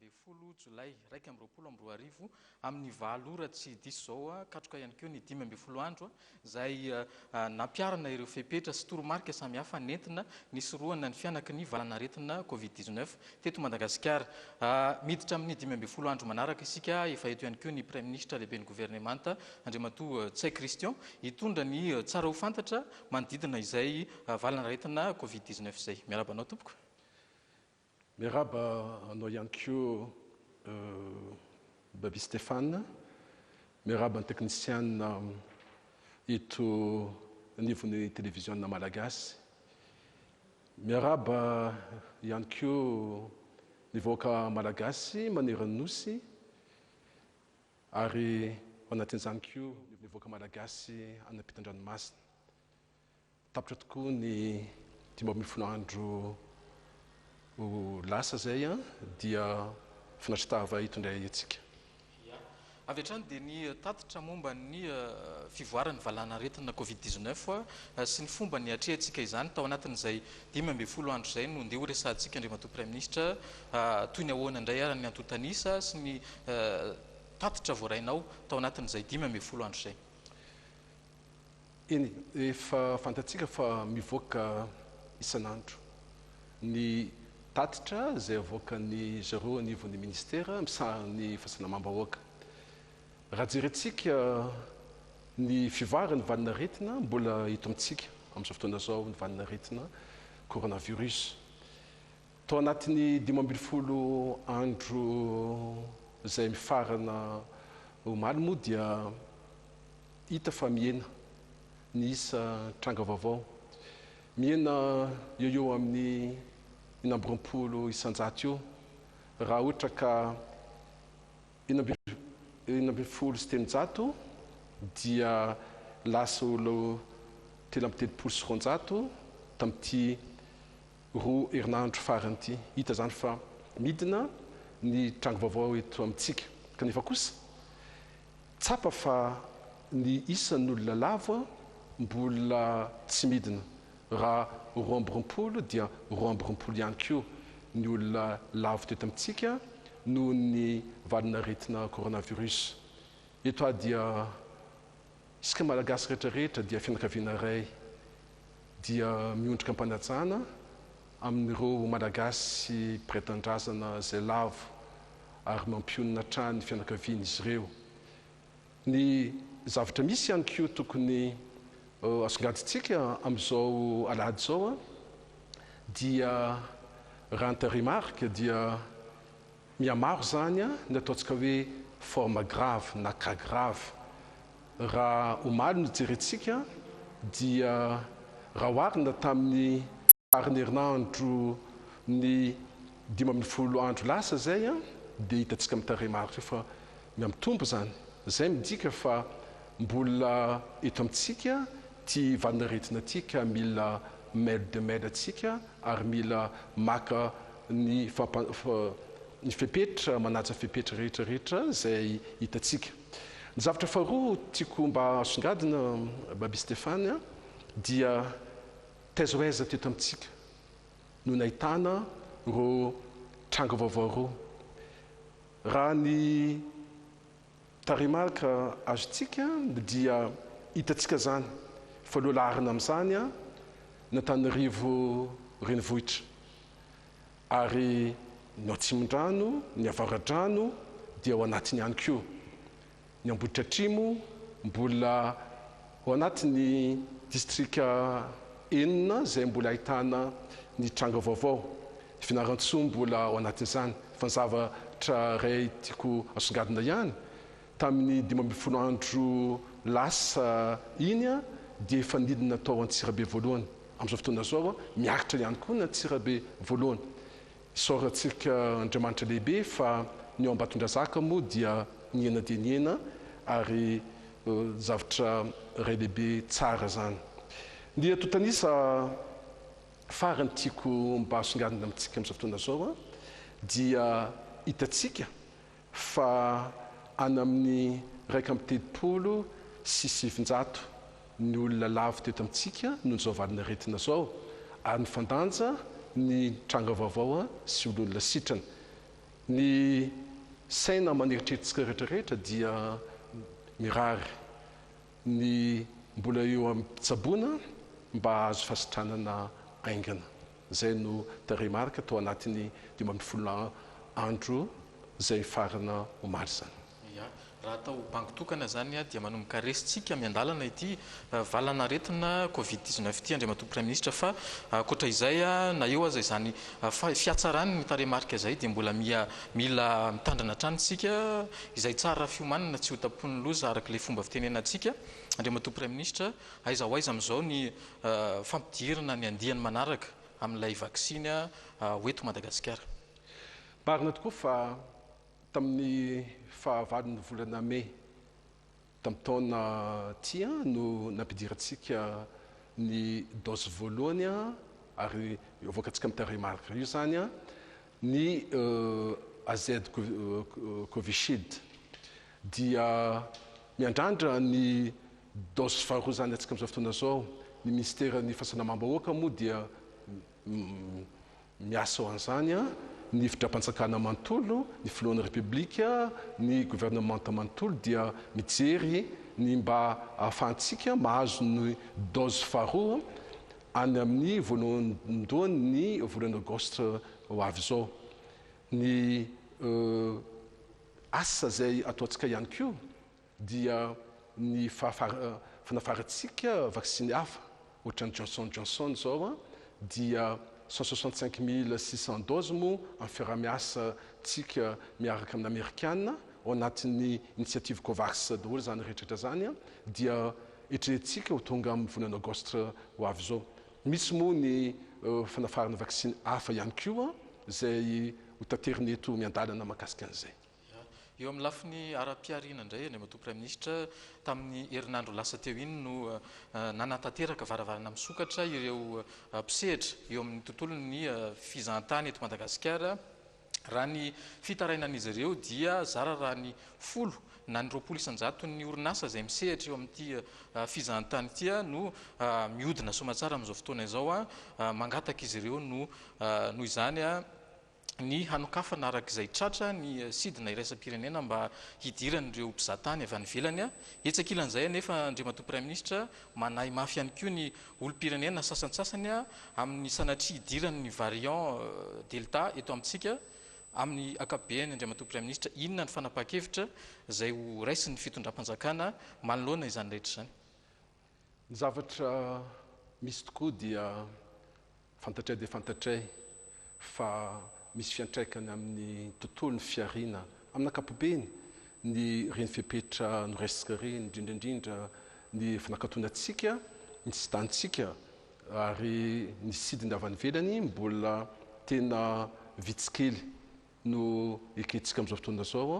Ny folo jolay iraika amby roapolo amby roa arivo, amin'ny valo ora tsy diso izao, katroka ihany koa ny dimy ambin'ny folo andro izay nampiharana ireo fepetra sy toromarika samihafa nentina nisorohana ny fihanaky ny valan'aretina Covid dix neuf teto Madagasikara. Miditra amin'ny dimy ambin'ny folo andro manaraka isika. Efa eto ihany koa ny Praiminisitra lehiben'ny Governemanta, Andriamatoa Ntsay Christian, hitondra ny tsara ho fantatra manodidina izay valan'aretina Covid dix neuf izay. Miarahaba anao, Tompoko. Miarahaba anao ihany koa Baby Stéphane. Miarahaba ny teknisiana eto anivon'ny televiziona malagasy. Miarahaba ihany koa ny vahoaka malagasy maneran'ny Nosy ary ao anatin'izany koa ny vahoaka malagasy any am-pitan-dranomasina. Tapitra tokoa ny dimy ambin'ny folo andro ho lasa izay dia finaritra tava eto indray antsika. Ia. Avy hatrany dia ny tatitra momba ny fivoaran'ny valanaretina covid dix-neuf sy ny fomba niatrehantsika izany tao anatin'izay dimy ambin'ny folo andro izay no ndeha horesahantsika Andriamatoa Praiminisitra toy ny ahoana indray ary ny antontan'isa sy ny tatitra voarainao tao anatin'izay dimy ambin'ny folo andro izay. Eny, efa fantatsika fa mivoaka isan'andro ny tatitra izay avoakan'ny zareo anivon'ny Ministera misahana ny fahasalamam-bahoaka. Raha jerentsika ny fivoaran'ny valin'aretina, mbola eto amintsika amin'izao fotoana izao ny valin'aretina Coronavirus. Tao anatin'ny dimy ambin'ny folo andro izay mifarana omaly moa dia hita fa mihena ny isa tranga vaovao. Mihena eo eo amin'ny enina amby roapolo isan-jato eo raha ohatra ka enina ambin'ny folo sy telonjato dia lasa ho telo amby telopolo sy roanjato tamin'ity Roa herinandro farany ity, hita izany fa midina ny tranga vaovao eto amintsika. Kanefa kosa, tsapa fa ny isan'olona lavo mbola tsy midina. Raha roa amby roapolo dia roa amby roapolo ihany koa ny olona lavo teto amintsika noho ny valin'aretina coronavirus. Eto aho dia. Isika Malagasy rehetra rehetra dia fianakaviana iray dia miondrika am-panajana amin'ireo Malagasy mpiray tanindrazana izay lavo ary mampionona hatrany ny fianakavian'izy ireo. Ny zavatra misy ihany koa tokony asongadintsika amin'izao alahady izao dia raha ny tarehimarika dia Mihamaro izany ny ataontsika hoe forme grave na cas grave. Raha omaly no jerentsika dia raha oharina tamin'ny faran'ny herinandro ny dimy ambin'ny folo andro lasa izay dia hitantsika amin'ny tarehimarika io fa mihamitombo izany. Izay midika fa Mbola eto amintsika ty valin'aretina ty ka mila mail de mail tsika ary mila maka ny ny fepetra manaja fepetra rehetra rehetra zay hitantsika. Ny zavatra faharoa tiako mba asongadina Baby Stephane a dia taiza ho aiza teto amintsika no nahitana rô tranga vaovao rô? Raha ny Tarehimarika azontsika dia hitantsika izany fa loha laharana amin'izany ny Antananarivo renivohitra ary ny ao Atsimondrano, ny Avaradrano dia ao anatiny ihany koa. Ny Ambohidratrimo mbola Ao anatin'ny distrika enina izay mbola ahitana ny tranga vaovao, i Fianarantsoa mbola ao anatin'izany. Fa ny zavatra iray tiako asongadina ihany, tamin'ny dimy ambin'ny folo andro lasa iny dia efa nidina tao Antsirabe voalohany. Amin'izao fotoana izao, miakatra ihany koa ny Antsirabe voalohany. Isaorantsika Andriamanitra lehibe fa ny ao Ambatondrazaka moa dia nihena dia nihena ary zavatra iray lehibe tsara izany. Ny antontanisa farany tiako mba asongadina amintsika amin'izao fotoana izao dia hitantsika fa any amin'ny iraika amby telopolo sy sivinjato ny olona lavo teto amintsika noho izao valin'aretina izao ary nifandanja ny tranga vaovao sy olona sitrana. Ny saina aman'eritreritsika rehetra rehetra dia mirary ny mbola eo amin'ny mpitsaboana mba hahazo fahasitranana haingana. izay no tarehimarika tao anatin'ny dimy ambin'ny folo andro izay mifarana omaly izany. Ia, raha atao bango tokana izany dia manomboka resintsika miandalana ity valan'aretina covid dix neuf ity Andriamatoa Praiminisitra fa ankoatra izay na eo aza izany fihatsaran'ny tarehimarika izay dia mbola miha mila mitandrina hatrany isika izay tsara fiomanana tsy hotapoin'ny loza araka ilay fomba fitenenantsika Andriamatoa Praiminisitra. Aiza ho aiza amin'izao ny fampidirana ny andiany manaraka amin'ilay vaksiny ho eto Madagasikara? Marina tokoa fa tamin'ny fahavalon'ny volana mey tamin'ny taona ity no nampidirantsika ny dose voalohany ary avoakantsika amin'ny tarehy marika io izany ny AZCovishield. dia miandrandra ny dose faharoa izany antsika amin'izao fotoana izao, ny minisiteran'ny fahasalamam-bahoaka moa dia miasa ho an'izany, ny fitram-panjakana manontolo, ny filohan'ny repoblika, ny governemanta manontolo dia mijery ny mba ahafahantsika mahazo ny dose faharoa any amin'ny voalohandohan'ny volana aogositra ho avy izao ny Asa izay ataontsika ihany koa dia ny fanafarantsika vaksiny hafa, ohatran'ny Johnson Johnson izao dia cent soixante cinq mille six cents doses moa amin'ny fiaraha-miasantsika miaraka amin'ny Amerikana ao anatin'ny initiative Covax daholo izany rehetrarehetra izany dia etrehintsika ho tonga amin'ny volana Aogositra ho avy izao. Misy moa ny fanafarana vaksiny hafa ihany koa izay ho taterina eto miandalana mahakasika an'izay. Eo amin'ny lafiny ara-pihariana indray, ny Andriamatoa Praiminisitra, tamin'ny herinandro lasa teo iny no nanatanteraka varavarana misokatra ireo mpisehatra eo amin'ny tontolon'ny fizahantany eto Madagasikara. Raha ny fitarainan'izy ireo dia zara raha ny folo na ny roapolo isan-jaton'ny orinasa izay misehatra eo amin'ity fizahantany ity no mihodina soamatsara amin'izao fotoana izao. Mangataka izy ireo noho izany ny hanokafana araka izay tratra ny sidina iraisam-pirenena mba hidiran'ireo mpizahatany avy any ivelany. Etsy ankilan'izay anefa, Andriamatoa Praiminisitra, manahy mafy ihany koa ny olom-pirenena sasantsasany amin'ny sanatria hidiran'ny variant Delta eto amintsika. Amin'ny ankapobeny, Andriamatoa Praiminisitra, inona ny fanapahan-kevitra izay ho raisin'ny fitondram-panjakana manoloana izany rehetra izany? Ny zavatra misy tokoa dia fantatray dia fantatray fa misy fiantraikany amin'ny tontolon'ny fihariana amin'ny ankapobeny ny reny fepetra noraisika ireny, indrindra indrindra ny fanakatonantsika ny sidantsika ary ny sidina avy any ivelany mbola tena vitsy kely no ekentsika amin'izao fotoana izao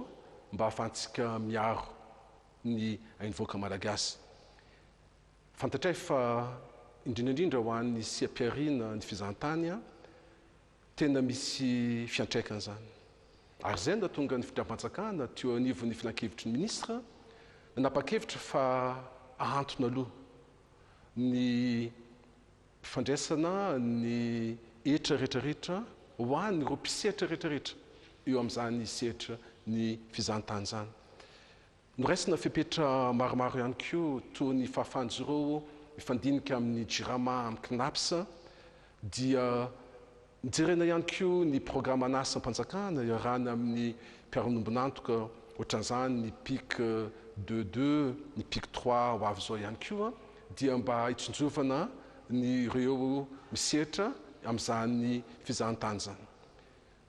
mba hahafahantsika miaro ny ain'ny vahoaka Malagasy. Fantatray fa indrindra indrindra ho an'ny seha-pihariana ny fizahantany tena misy fiantraikany izany. Ary izay no nahatonga ny fitram-panjakana teo anivon'ny filankevitry ny minisitra nanapa-kevitra fa ahantona aloha ny fandraisana ny hetra rehetrarehetra ho an'ireo mpisehatra rehetrarehetra eo amin'izany sehatra ny fizahantany izany. Noraisina fepetra maromaro ihany koa toa ny fahafahan-jireo mifandinika amin'ny Jirama amin'ny Cnaps dia nojerena ihany koa ny programan'asam-panjakana iarahana amin'ny mpiaronombon'antoka ohatran'izany ny pic deux deux, ny pic trois ho avy izao ihany koa dia mba hitsinjovana ny ireo misetra amin'izany fizahantany izany.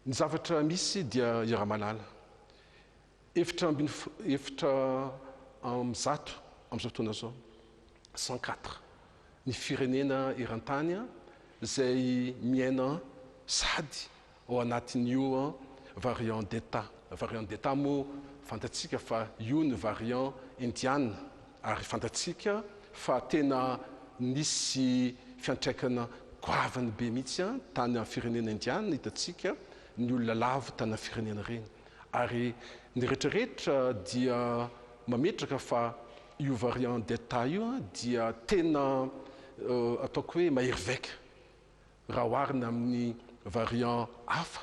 Ny zavatra misy dia i Ramalala Efitra ambin'ny efitra amby zato amin'izao fotoana izao, cent quatre, ny firenena eran-tany izay miaina sady ao anatin'io variant delta. Variant delta moa fantatsika fa io ny variant indiana ary fantatsika fa tena nisy fiantraikana goavany be mihitsy tany amin'ny firenena indiana, hitantsika ny olona lavo tany amin'ny firenena ireny. Ary ny retraretra dia mametraka fa io variant delta io dia tena ataoko hoe mahery vaika raha oharina amin'ny variant hafa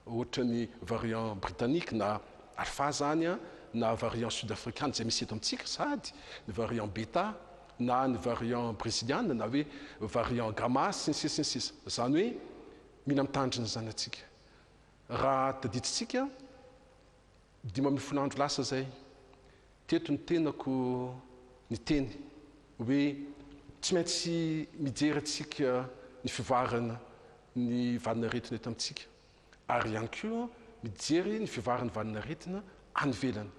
ohatran'ny variant britannique na alpha zany na variant sud afrikana izay misy eto amintsika sady ny variant beta na ny variant breziliana na hoe variant gamma sy ny sisa sy ny sisa. Izany hoe mila mitandrina izany antsika. Raha tadidintsika, dimy ambin'ny folo andro lasa izay, teto ny tenako niteny hoe tsy maintsy mijery antsika ny fivoaran' ny valin'aretina eto amintsika, ary ihany koa mijery ny fivoaran'ny valin'aretina any ivelany.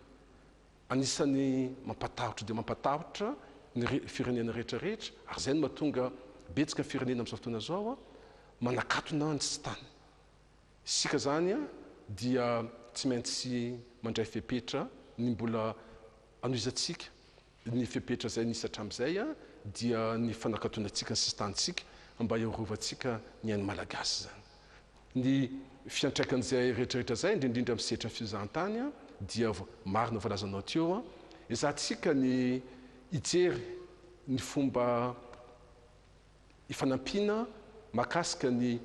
Anisan'ny mampatahotra dia mampatahotra ny firenena rehetrarehetra, ary izay no mahatonga betsaka ny firenena amin'izao fotoana izao manakatona ny sisintany. Isika izany dia tsy maintsy mandray fepetra, ny mbola anohizantsika ny fepetra izay nisy hatramin'izay dia ny fanakatonantsika ny sisin-tanintsika mba hiarovantsika ny ain'ny Malagasy izany. Ny fiantraikan'izay rehetrarehetra izay, indrindrindra amin'ny sehatry ny fizahantany dia marina voalazanao teo, ezahantsika ny hijery ny fomba fanampiana mahakasika ny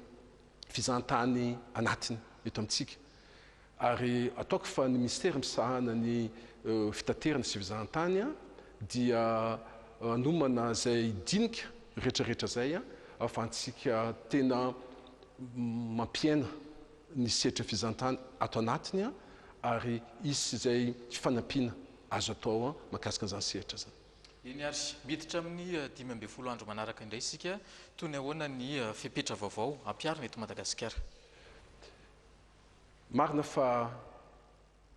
fizahantany anatiny eto amintsika. Ary ataoko fa ny Minisitera misahana ny Fitaterana sy Fizahantany dia hanomana izay dinika rehetrarehetra izay ahafahantsika tena mampiaina ny sehatry ny fizahantany ato anatiny ary hisy izay fanampiana azo atao mahakasika an'izany sehatra izany. Eny ary, miditra amin'ny dimy ambin'ny folo andro manaraka indray isika, toy ny ahoana ny fepetra vaovao ampiharina eto Madagasikara? Marina fa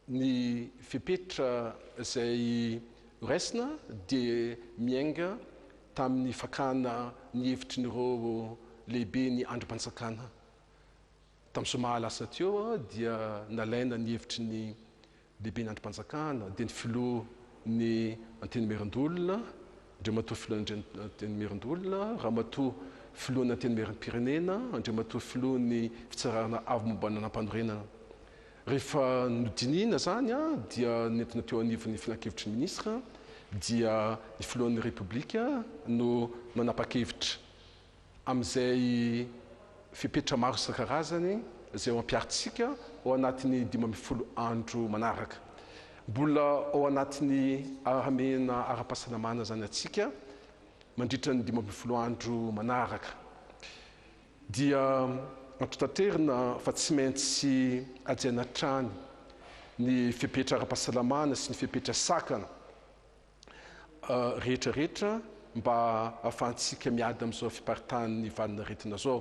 ny fepetra izay horaisina dia miainga tamin'ny fakana ny hevitry ny roa lehibe ny andrimpanjakana. Tamin'ny zoma lasa teo dia nalaina ny hevitry ny Lehiben'ny andrim-panjakana dia ny filoha ny Antenimierandoholona, Andriamatoa filohan'ny Antenimierandoholona, Ramatoa filohan'ny Antenimierampirenena, Andriamatoa filohan'ny Fitsarana Avo momba ny Lalàmpanorenana. Rehefa nodinihina izany dia nentina teo anivon'ny Filankevitry ny Minisitra dia ny Filohan'ny Repoblika no nanapa-kevitra amin'izay fepetra maro isan-karazany izay ho ampiharintsika ao anatin'ny dimy ambin'ny folo andro manaraka. Mbola ao anatin'ny ara-hamehana ara-pahasalamana izany antsika mandritra ny dimy ambin'ny folo andro manaraka. Dia antontanterina fa tsy maintsy hajaina hatrany ny fepetra ara-pahasalamana sy ny fepetra sakana. rehetra rehetra mba ahafahantsika miady amin'izao fiparitahan'ny valin'aretina izao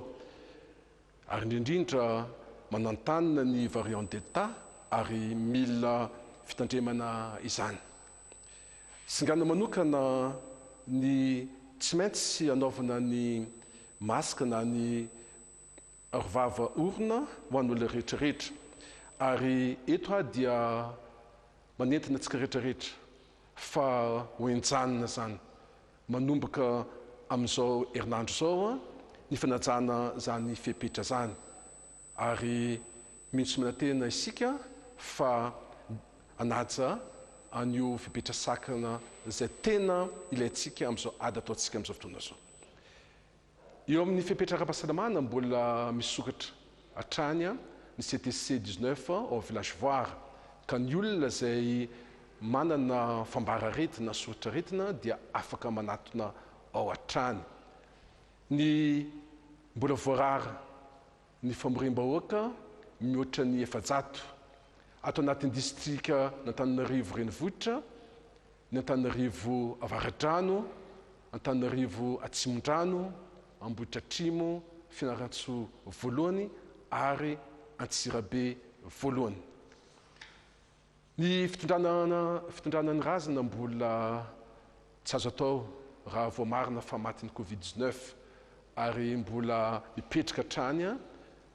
ary indrindra manantanina ny variant delta ary mila fitandremana izany. Singana manokana ny tsy maintsy anaovana ny masque na ny Ary vava orina ho an'olona rehetra rehetra. Ary eto aho dia manentana antsika rehetra rehetra fa ho enjanina izany manomboka amin'izao herinandro izao ny fanajana izany fepetra izany. Ary mihitsy manantena isika fa hanaja an'io fepetra sakana izay tena ilaintsika amin'izao ady ataontsika amin'izao fotoana izao. Eo amin'ny fepetra ara-pahasalamana mbola misokatra hatrany ny CTC dix neuf ao Village Voire ka ny olona izay manana fambara-aretina na soritr'aretina dia afaka manatona ao hatrany. Ny mbola voarara ny famoriam-bahoaka mihoatra ny efajato ato anatin'ny distrikan'Antananarivo renivohitra, ny Antananarivo Avaradrano, Antananarivo Atsimondrano, Ambohitratrimo, Fianarantsoa Voalohany ary Antsirabe Voalohany. Ny fitondrana fitondrana ny razana mbola tsy azo atao raha voamarina fa matin'ny Covid dix-neuf ary mbola mipetraka hatrany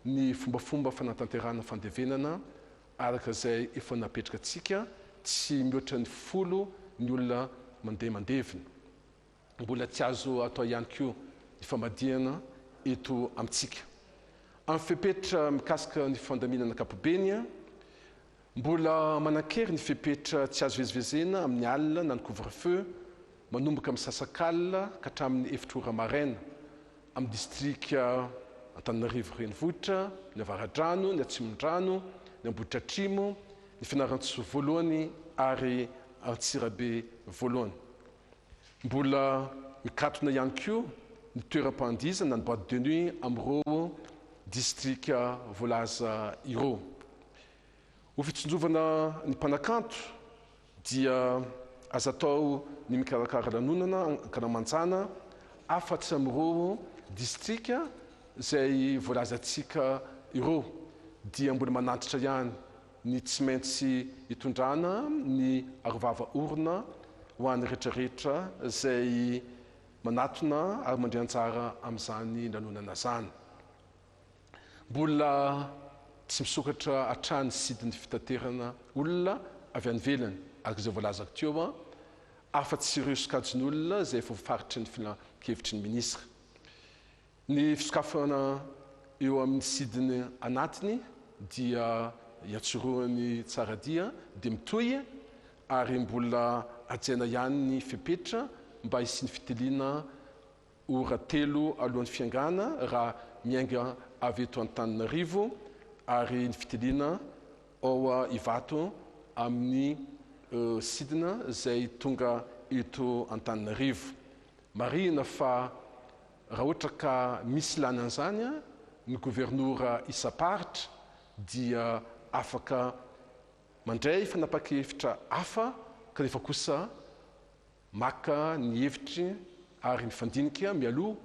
ny fombafomba fanatanterahana fandevenana Araka izay efa napetraka antsika, tsy mihoatra ny folo ny olona mandeha mandevina. Mbola tsy azo atao ihany koa ny famadihana eto amintsika. Amin'ny fepetra mikasika ny fandaminana ankapobeny, mbola manan-kery ny fepetra tsy azo ivezivezena amin'ny alina na ny couvre-feu manomboka misasak'alina ka hatramin'ny efitra ora maraina, amin'ny distrika Antananarivo Renivohitra, ny Avaradrano, ny Atsimondrano, ny Ambohidratrimo, ny Fianarantsoa Voalohany ary Antsirabe Voalohany. Mbola mikatona ihany koa ny toeram-pandihizana ny boite de nuit amin'ireo distrika voalaza ireo. Ho fitsinjovana ny mpanakanto dia aza atao ny mikarakara lanonana ankalamanjana afatsy amin'ireo distrika izay voalazantsika ireo dia mbola manantitra ihany ny tsy maintsy hitondrana ny arovava orona ho an'ny rehetra rehetra izay manatona ary mandria anjara amin'izany lanonana izany. Mbola tsy misokatra hatrany sidin'ny fitaterana olona avy any ivelany, araka izay voalazako teo, afa-tsy ireo sokajin'olona izay efa voafaritry ny filankevitry ny minisitra. Ny fisokafana eo amin'ny sidiny anatiny dia iantsorohan'ny tsara dia dia mitohy ary mbola hajaina ihany ny fepetra mba hisian'ny fitiliana ora telo alohan'ny fiangana raha miainga avy eto Antananarivo ary ny fitiliana ao Ivato amin'ny sidina izay tonga eto Antananarivo. Marihina fa raha ohatra ka misy ilàna an'izany ny governora isam-paritra dia afaka mandray fanapa-kevitra hafa kanefa kosa Maka ny hevitry ary mifandinika mialoha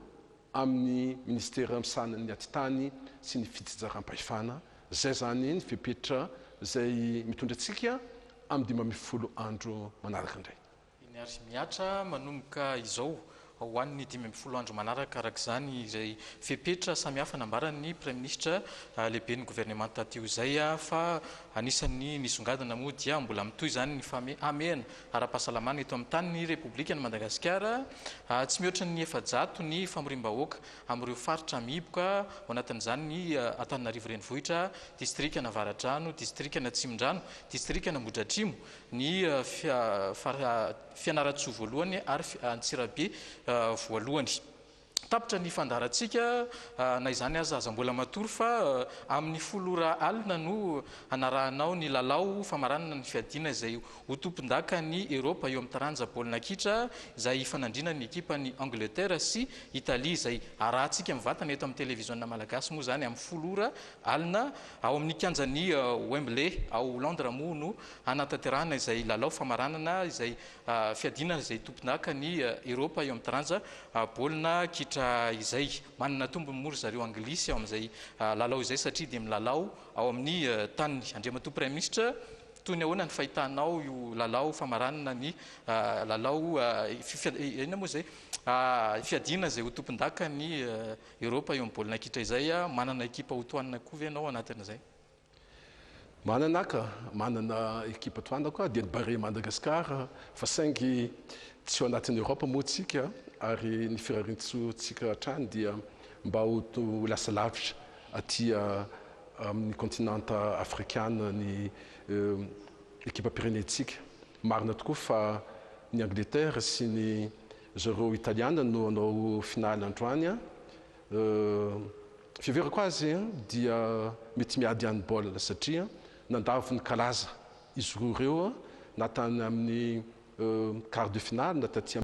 amin'ny Minisitera misahana ny Atitany sy ny Fitsinjaram-pahefana, izay izany ny fepetra izay mitondra antsika amin'ny dimy ambin'ny folo andro manaraka indray. Eny ary mihatra manomboka izao ho an'ny dimy ambin'ny folo andro manaraka araka izany izay fepetra samihafa nambaran'ny Praiminisitra lehiben'ny Governemanta teo izay fa anisan'ny nisongadina moa dia mbola mitohy izany ny hamehana ara-pahasalamana eto amin'ny tany ny Repoblikan'i Madagasikara. Tsy mihoatra ny efajato ny famoriam-bahoaka amin'ireo faritra mihiboka, ao anatin'izany ny Antananarivo Renivohitra, Distrikan' Avaradrano, Distrikan' Atsimondrano, Distrikan' Ambohidratrimo, ny Fianarantsoa Voalohany ary Antsirabe Voalohany. Tapitra ny fandaharantsika, na izany aza aza mbola matory fa amin'ny folo ora alina no hanarahanao ny lalao famaranana ny fiadiana izay ho tompondakan'i Eropa eo amin'ny taranja baolina kitra izay hifanandrina ny ekipan'i Angleterre sy Italie izay arahantsika mivantana eto amin'ny televiziona malagasy moa izany amin'ny folo ora alina ao amin'ny kianjan'i Wembley ao Londres moa no hanatanterahana izay lalao famaranana izay Fiadiana izay tompon'haka ny Eropa eo amin'ny taranja baolina kitra izay. Manana tombony moa ry zareo Anglisy ao amin'izay lalao izay satria dia milalao ao amin'ny taniny. Andriamatoa Praiminisitra, toy ny ahoana ny fahitanao io lalao famaranana ny lalao inona moa izay? fiadiana izay ho tompondaka ny Eropa eo amin'ny baolina kitra izay. Manana ekipa hotohanana koa ve ianao ao anatin'izay? Manana aho ka, manana ekipa toa anako aho, dia ny Barea Madagascar, fa saingy tsy ao anatin'ny Europe moa tsika, ary ny firarian-tsoantsika hatrany dia mba ho lasa lavitra aty amin'ny continent afrikana ny ekipam-pirenentsika. Marina tokoa fa ny Angleterre sy ny zareo Italiana no hanao finale androany, Ny fiheverako azy dia mety miady any baolina satria nandavo ny kalaza izy roa ireo na tany amin'ny quart de finale na taty amin'ny.